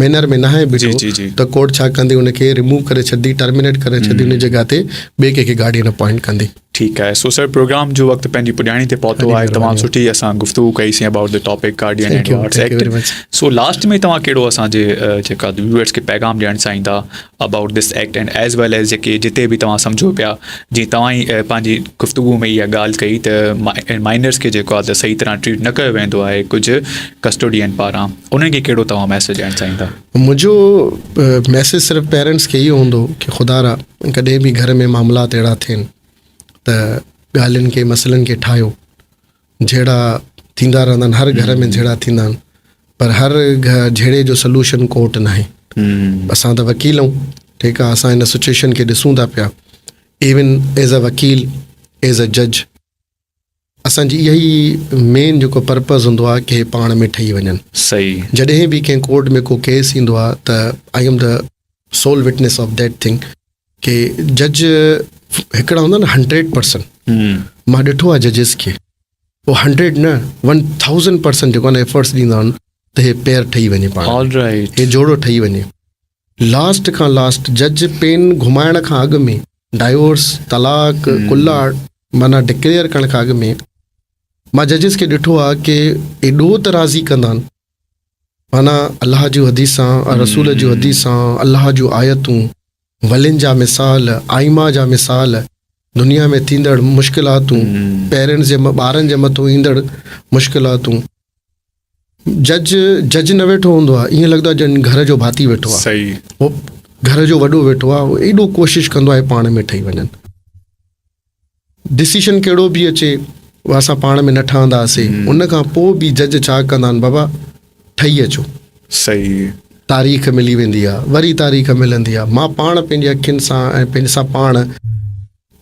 مينر ۾ ناهي بيٺو ته ڪورٽ ڇا ڪندي ان کي ريموو ڪري ڇڏندي ٽرمينيٽ ڪري ڇڏندي ان جي جڳهه تي ٻئي ڪنهن کي گارڊين اپوائنٽ ڪندي. ٺيڪ آهي سو سر پروگرام جو وقت پنهنجي پڄاڻي تي پهتو آهي تمام سٺي اسان گفتگو ڪئي سين about the topic guardian and wards act so last ۾ توهان ڪهڙو اسان جي جيڪا ويورز کي پيغام ڏيڻ چاهيندا about this act and as well as جيڪي جتي به توهان سمجهو پيا جي توهان ئي پنهنجي گفتگو ۾ اها ڳالهه ڪئي ته مائنرز کي جيڪو آهي ته صحيح طرح ٽريٽ نه ڪيو ويندو آهي ڪجهه ڪسٽوڊين پاران انهن کي ڪهڙو توهان ميسيج ڏيڻ چاهين ٿا؟ منهنجو ميسيج صرف پيرنٽس کي اهو هوندو ڪي خدا را ڪڏهن به گهر ۾ معاملات اهڙا ٿين ته ڳالهين کي مسئلن کي ٺاهيو جهيڙا ٿيندا رهندا آهن هر گهر ۾ جهيڙا ٿيندا آهن پر هر جهيڙي جو سلوشن ڪورٽ ناهي اسان ته وڪيل آهيون ٺيڪ آهي اسان هن سچويشن کي ڏسون ٿا پيا ايون ايز ا وڪيل ايز ا جج اسان جي اهي ئي مين جيڪو پرپز هوندو آهي ڪي پاڻ ۾ ٺهي وڃن صحيح جڏهن به ڪنهن ڪورٽ ۾ ڪو ڪيس ايندو آهي ته آئي ايم ته civil witness of that thing ڪي جج هڪڙا هوندا نه هنڊريڊ پرسن مان ڏٺو آهي ججز کي هو هنڊريڊ نه ون ٿاوزنڊ پرسن جيڪو آهي ايفرٽس ڏيندا آهن ته هي پير ٺهي وڃي پاڻ هي جوڙو ٺهي وڃي لاسٽ کان لاسٽ جج پين گهمائڻ کان اڳ ۾ ڊائيورس، طلاق، ڪلا معنيٰ ڊڪليئر ڪرڻ کان اڳ ۾ مان ججز کي ڏٺو آهي ڪي ايڏو ته راضي ڪندا آهن معنيٰ الله جون حديثان، رسول جون حديثان، الله جون آيتون، ولين جا مثال، آئمه جا مثال، دنيا ۾ ٿيندڙ مشڪلاتون، پيرنٽس جي ٻارن جي مٿو ايندڙ مشڪلاتون. جج جج نه ويٺو هوندو آهي ايئن لڳندو آهي ڄڻ گهر جو ڀاتي ويٺو آهي صحيح هو گهر جو وڏو ويٺو آهي هو ايڏو ڪوشش ڪندو آهي پاڻ ۾ ٺهي وڃن ڊسيشن ڪهڙو به اچي اها اسان پاڻ ۾ نه ٺهندا هاسي ان کان پوء به جج ڇا ڪندا آهن بابا ٺهي اچو صحيح تاريخ ملي ويندي آهي وري تاريخ ملندي آهي مان پاڻ پنهنجي اکين سان ۽ پنهنجي سان پاڻ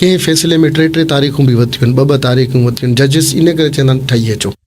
ڪنهن فيصلي ۾ ٽي ٽي تاريخون به وتيون آهن ٻه ٻه تاريخون وتيون آهن ججز ان ڪري چوندا آهن ٺهي اچو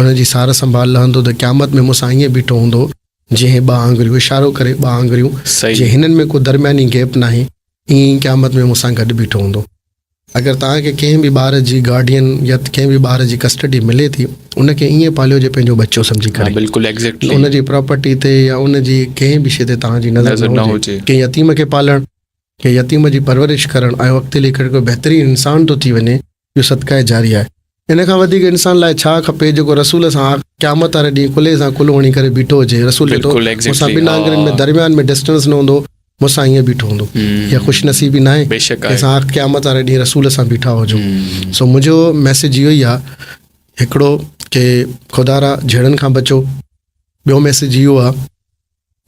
ان جي سار سنڀال لهندو ته قيامت ۾ مون سان ائين بيٺو هوندو جيئن ٻه آڱريون، اشارو ڪري ٻه آڱريون، جي هنن ۾ ڪو درمياني گيپ ناهي، ائين ئي قيامت ۾ مون سان گڏ بيٺو هوندو. اگر توهان کي ڪنهن به ٻار جي گارڊين يا ڪنهن به ٻار جي ڪسٽڊي ملي ٿي، ان کي ائين پاليو جي پنهنجو ٻچو سمجهي ڪري. ان جي پراپرٽي تي يا ان جي ڪنهن به شيء تي توهان جي نظر نه هجي. ڪنهن يتيم کي پالڻ، ڪنهن يتيم جي پرورش ڪرڻ ۽ اڳتي هلي ڪري ڪو بهترين انسان ٿو ٿي وڃي، جو صدقه جاريه آهي. ان کان وڌيڪ انسان لاء ڇا کپي جيڪو رسول سان آخر قيامت واري ڏينهن ڪلهي سان ڪلهو هڻي ڪري بيٺو هجي. رسول چيو ٿو، مون سان ٻن آڱرين ۾ درميان ۾ Distance نه هوندو، مون سان ائين بيٺو هوندو. اها خوش نصيبي ناهي جنهن سان آخر قيامت واري ڏينهن رسول سان بيٺا هجو. سو منهنجو Message اهو ئي آهي هڪڙو ڪي خدا را جهيڙن کان بچو. ٻيو Message اهو آهي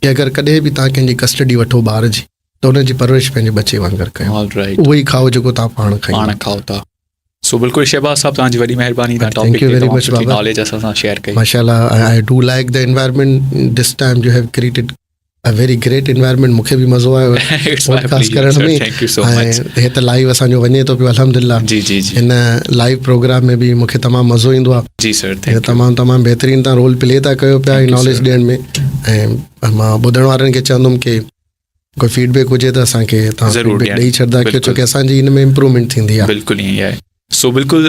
ڪي اگر ڪڏهن به توهان ڪنهن جي Custody وٺو ٻار جي. ته ان جي پرورش پنهنجي ٻچي وانگر ڪيو اهو ئي کائو جيڪو توهان پاڻ کائين کائو ٿا سو بلڪل شهباز صاحب توهان جي وڏي مهرباني توهان ٽاپڪ تي توهان سٺي ناليج اسان سان شيئر ڪئي ماشاءالله I do like the environment this time you have created a very great environment مونکي به مزو آيو پوڊڪاسٽ ڪرڻ ۾ ۽ هي ته لائيو اسان جو وڃي ٿو پيو الحمدلله جي جي جي هن لائيو پروگرام ۾ به مونکي تمام مزو ايندو آ جي سر ٿينڪ تمام تمام بهترين تان رول پلي ٿا ڪيو پيا ناليج ڏيڻ ۾ ۽ مان ٻڌڻ وارن کي چوندم ڪي ڪو فيڊ بيڪ هجي ته اسان کي ضرور ڏئي ڇڏدا ڪيو ڇو ڪي اسان جي ان ۾ امپروومينٽ ٿيندي آ بلڪل ائين آهي سو بلڪل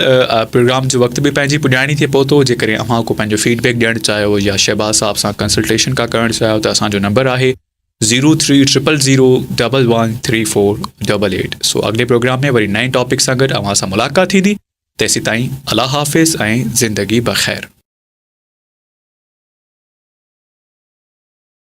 پروگرام جو وقت به پنهنجي پڄاڻي تي پهتو جي ڪري اوهان ڪو پنهنجو فيڊ بيڪ ڏيڻ چاهيو يا شهباز صاحب سان ڪنسلٽيشن ڪا ڪرڻ چاهيو ته اسان جو نمبر آهي zero three triple zero double one three four double eight so اڳلي پروگرام ۾ وري نئين ٽاپڪ سان گڏ اوهان سان ملاقات ٿيندي تيسي تائين الله حافظ ۽ زندگي بخير